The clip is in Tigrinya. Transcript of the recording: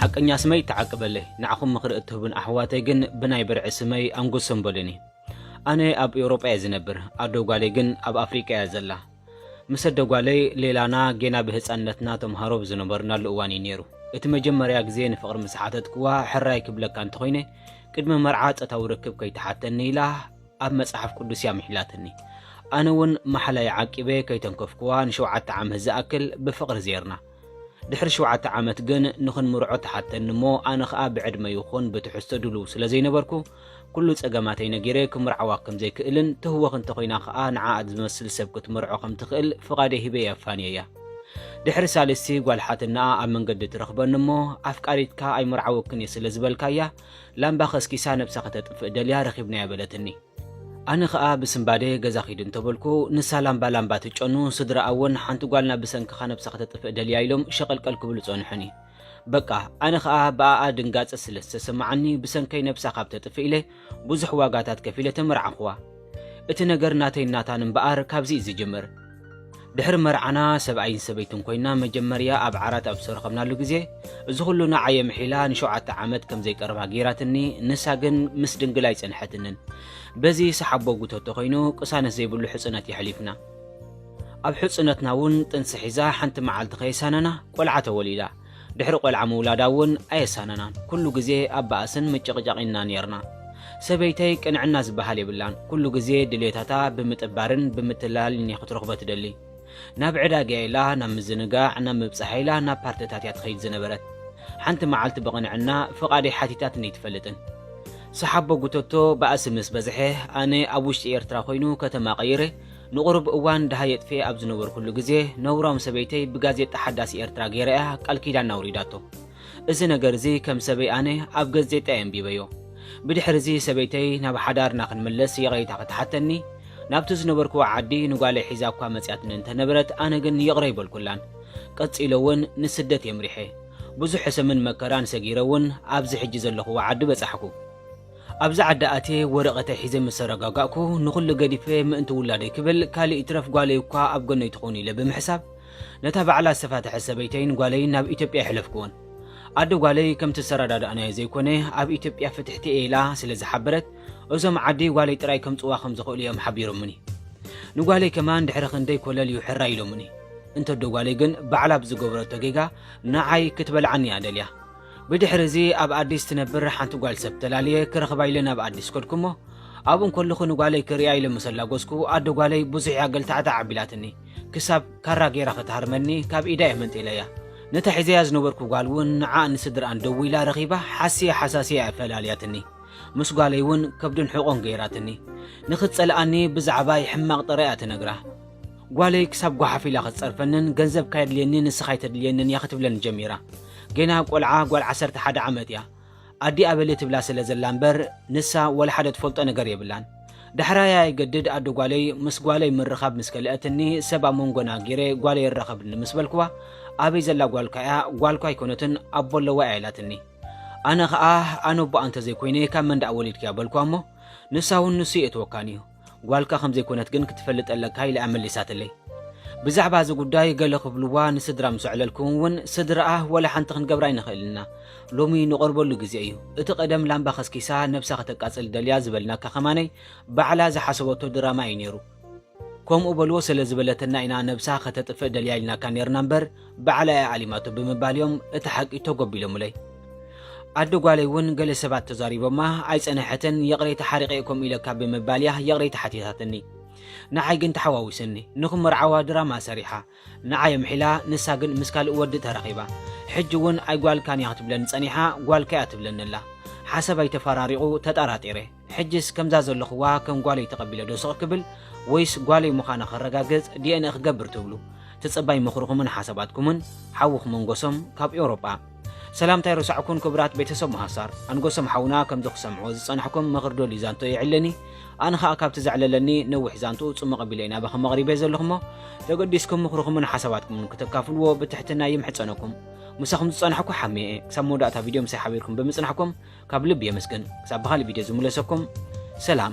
ሓቀኛ ስመይ ተዓቅበለይ ንዓኹም ምኽሪ እትህቡን ኣሕዋተይ ግን ብናይ ብርዒ ስመይ ኣንጉሶም በሉኒ ኣነ ኣብ ኤውሮጳ እየ ዝነብር ኣዶ ጓለይ ግን ኣብ ኣፍሪቃ እያ ዘላ ምስ ኣደ ጓለይ ሌላና ጌና ብህፃንነትና ተምሃሮ ብዝነበርናሉ እዋን እዩ ነይሩ እቲ መጀመርያ ግዜ ንፍቕሪ ምስ ሓተትክዋ ሕራይ ክብለካ እንተኾይነ ቅድሚ መርዓ ጸታዊ ርክብ ከይተሓተኒ ኢላ ኣብ መጽሓፍ ቅዱስ እያ ምሒላትኒ። ኣነ እውን ማሕላይ ዓቂበ ከይተንከፍኩዋ ንሸውዓተ ዓመት ዝኣክል ብፍቕሪ ዜርና። ድሕሪ ሽውዓተ ዓመት ግን ንኽንምርዖ ትሓተኒ እሞ ኣነ ኸኣ ብዕድመ ይኹን ብትሕዝቶ ድሉው ስለ ዘይነበርኩ ኩሉ ጸገማተይ ነጊረ ክምርዓዋ ከም ዘይክእልን ትህወኽ እንተ ኾይና ኸኣ ንዓኣ ዝመስል ሰብ ክትምርዖ ከም ትኽእል ፍቓደይ ሂበ እየ ኣፋንየያ። ድሕሪ ሳልስቲ ጓል ሓትነኣ ኣብ መንገዲ ትረኽበኒ እሞ ኣፍቃሪትካ ኣይምርዓወክን እየ ስለ ዝበልካያ ላምባ ከስኪሳ ነብሳ ከተጥፍእ ደልያ ረኺብናያ በለትኒ። ኣነ ከኣ ብስንባደ ገዛ ኪዱ እንተበልኩ ንሳ ላምባ ላምባ ትጨኑ ስድራኣ'ውን ሓንቲ ጓልና ብሰንክኻ ነብሳ ከተጥፍእ ደልያ ኢሎም ሸቐልቀል ክብሉ ጸንሑኒ። በቃ ኣነ ከኣ ብኣኣ ድንጋጸ ስለ ዝተሰማዓኒ ብሰንከይ ነብሳ ካብ ተጥፍእ ኢለ ብዙሕ ዋጋታት ከፊለ ተመርዓኹዋ። እቲ ነገር ናተይን ናታን እምበኣር ካብዚ'ዩ ዝጅምር። ድሕሪ መርዓና ሰብኣይን ሰበይትን ኮይና መጀመርያ ኣብ ዓራት ኣብ ዝተረኸብናሉ ግዜ እዚ ኩሉ ንዓይ ኣምሒላ ንሸውዓተ ዓመት ከም ዘይቀርባ ገይራትኒ ንሳ ግን ምስ ድንግል ኣይጸንሐትንን በዚ ሰሓቦ ጉተቶ ኮይኑ ቅሳነት ዘይብሉ ሕጽነት የሕሊፍና ኣብ ሕጽነትና እውን ጥንሲ ሒዛ ሓንቲ መዓልቲ ከየሳነና ቆልዓ ተወሊዳ ድሕሪ ቆልዓ ምውላዳ እውን ኣየሳነናን። ኩሉ ግዜ ኣብ ባእስን ምጭቕጫቕን ኢና ኔርና። ሰበይተይ ቅንዕና ዝበሃል የብላን። ኩሉ ግዜ ድሌታታ ብምጥባርን ብምትላልን እያ ክትረኽቦ ትደሊ። ናብ ዕዳጋ ኢላ፣ ናብ ምዝንጋዕ፣ ናብ ምብጻሕ ኢላ ናብ ፓርትታት እያ ትኸይድ ዝነበረት። ሓንቲ መዓልቲ ብቕንዕና ፍቓደይ ሓቲታትኒ ኣይትፈልጥን። ሰሓቦ ጉተቶ ባእሲ ምስ በዝሐ፣ ኣነ ኣብ ውሽጢ ኤርትራ ኮይኑ ከተማ ቀይረ፣ ንቑሩብ እዋን ደሃይ የጥፌ ኣብ ዝነበርኩሉ ግዜ ነውራም ሰበይተይ ብጋዜጣ ሓዳስ ኤርትራ ገይራ እያ ቃል ኪዳና ኣውሪዳቶ። እዚ ነገር እዚ ከም ሰበይ ኣነ ኣብ ገዜጣ እየ ኣንቢበዮ። ብድሕሪ እዚ ሰበይተይ ናብ ሓዳርና ክንምለስ ይቕሬታ ክትሓተኒ ናብቲ ዝነበርክዎ ዓዲ ንጓለይ ሒዛ እኳ መጺኣትኒ እንተ ነበረት ኣነ ግን ይቕረ ኣይበልኩላን። ቀጺለ እውን ንስደት እየ ኣምሪሐ። ብዙሕ ሕሰምን መከራን ሰጊረ እውን ኣብዚ ሕጂ ዘለኹዎ ዓዲ በጻሕኩ። ኣብዚ ዓዲ ኣትየ ወረቐተይ ሒዘ ምስ ተረጋጋእኩ፣ ንኹሉ ገዲፈ ምእንቲ ውላደይ ክብል፣ ካልእ ይትረፍ ጓለይ እኳ ኣብ ጎነይ ትኹን ኢለ ብምሕሳብ፣ ነታ ባዕላ ዝተፋትሐት ሰበይተይን ጓለይን ናብ ኢትዮጵያ ኣይሕለፍኩዎን። ኣደ ጓለይ ከምቲ ዝተረዳዳእናዮ ዘይኮነ፣ ኣብ ኢትዮጵያ ፍትሕቲ'የ ኢላ ስለ ዝሓበረት፣ እዞም ዓዲ ጓለይ ጥራይ ከምጽዋ ከም ዝኽእሉ'ዮም ሓቢሮሙኒ። ንጓለይ ከማን ድሕሪ ክንደይ ኮለል'ዩ ሕራይ ኢሎሙኒ። እንተ'ዶ ጓለይ ግን ባዕላ ብዝገበረቶ ጌጋ ንዓይ ክትበልዓኒ'ያ ደልያ። ብድሕሪ እዚ ኣብ ኣዲስ ትነብር ሓንቲ ጓል ሰብ ተላልየ ክረኽባ ኢለ ናብ ኣዲስ ከድኩ እሞ ኣብኡ እንከለኹ ንጓለይ ክርእያ ኢለ ምስ ኣላጎስኩ ኣደ ጓለይ ብዙሕ እያ ገልታዕታዕ ኣቢላትኒ ክሳብ ካራ ገይራ ክትሃርመኒ ካብ ኢዳ እየ መንጢለያ ነታ ሒዘያ ዝነበርኩ ጓል እውን ንዓኣን ንስድርኣን ደዊላ ረኺባ ሓስየ ሓሳስየ እያ ፈላልያትኒ ምስ ጓለይ እውን ከብድን ሕቖን ገይራትኒ ንኽትጸልኣኒ ብዛዕባይ ሕማቕ ጥራይ እያ ትነግራ ጓለይ ክሳብ ጓሓፍ ኢላ ክትጸርፈንን ገንዘብ ካየድልየኒ ንስኻ ኣይተድልየንን እያ ክትብለኒ ጀሚራ። ጌና ቆልዓ ጓል ዓሰርተ ሓደ ዓመት እያ። ኣዲኣ በሊ ትብላ ስለ ዘላ እምበር ንሳ ወላ ሓደ ትፈልጦ ነገር የብላን። ዳሕራይ ኣየገድድ ኣደ ጓለይ ምስ ጓለይ ምርኻብ ምስ ከልአትኒ ሰብ ኣብ መንጎና ጌረ ጓለይ ኣራኸብኒ ምስ በልክዋ ኣበይ ዘላ ጓልካ እያ ጓልኳ ኣይኮነትን ኣቦ ኣለዋ እያ ኢላትኒ። ኣነ ኸኣ ኣነ ኣቦኣ እንተዘይኮይነ ካብ መን ደኣ ወሊድክያ በልክዋ እሞ ንሳ እውን ንሱ የእትወካን እዩ ጓልካ ከም ዘይኮነት ግን ክትፈልጥ ኣለካ ኢላ'ያ መሊሳትለይ። ብዛዕባ እዚ ጉዳይ ገለ ክብልዋ ንስድራ ምስ ኣዕለልኩ'ውን እውን ስድራኣ ወላ ሓንቲ ክንገብራ ኣይንኽእልን ኢና። ሎሚ ንቐርበሉ ግዜ እዩ። እቲ ቀደም ላምባ ከስኪሳ ነብሳ ከተቃጽል ደልያ ዝበልናካ ከማነይ ባዕላ ዝሓሰበቶ ድራማ እዩ ነይሩ። ከምኡ በልዎ ሰለዝበለትና ኢና ነብሳ ከተጥፍእ ደልያ ኢልናካ ነይርና እምበር ባዕላ እያ ዓሊማቶ ብምባል እዮም እቲ ሓቂ ተጎቢሎምለይ። ኣደ ጓለይ እውን ገለ ሰባት ተዛሪቦማ ኣይጸነሐትን፣ ይቕሬታ ሓሪቐ'የ ከምኡ ኢለካ ብምባል እያ ይቕሬታ ሓቲታትኒ። ንዓይ ግን ተሓዋዊስኒ። ንኽመርዓዋ ድራማ ሰሪሓ። ንዓይ ኣምሒላ ንሳ ግን ምስ ካልእ ወዲ ተራኺባ። ሕጂ እውን ኣይጓልካን እያ ክትብለኒ ጸኒሓ ጓልካ እያ ትብለኒ ኣላ። ሓሳባይ ተፈራሪቑ ተጠራጢረ። ሕጅስ ከምዛ ዘለኹዋ ከም ጓለይ ተቐቢለ ዶ ስቕ ክብል ወይስ ጓለይ ምዃና ከረጋግጽ ዲኤንኤ ክገብር ትብሉ? ትጽባይ ምኽርኹምን ሓሳባትኩምን ሓውኹም ኣንጎሶም ካብ ኤውሮጳ። ሰላምታ ኣይረሳዕኩን ክቡራት ቤተሰብ መሃሳር። ኣንጎሶም ሓውና ከምዚ ክሰምዕዎ ዝጸናሕኩም ምኽር ዶልዩ ዛንትኡ የዕለኒ። ኣነ ኸኣ ካብቲ ዘዕለለኒ ነዊሕ ዛንትኡ ጽሙቕ ኣቢለ እዩ ናባኹም ኣቕሪበዮ ዘለኹሞ ተገዲስኩም ምኽርኹምን ሓሳባትኩምን ክተካፍልዎ ብትሕትና ይምሕጸነኩም። ምሳኹም ዝጸናሕኩ ሓሜ እየ። ክሳብ መወዳእታ ቪድዮ ምሳይ ሓቢርኩም ብምጽናሕኩም ካብ ልቢ የመስግን ክሳብ ብካልእ ቪድዮ ዝምለሰኩም ሰላም።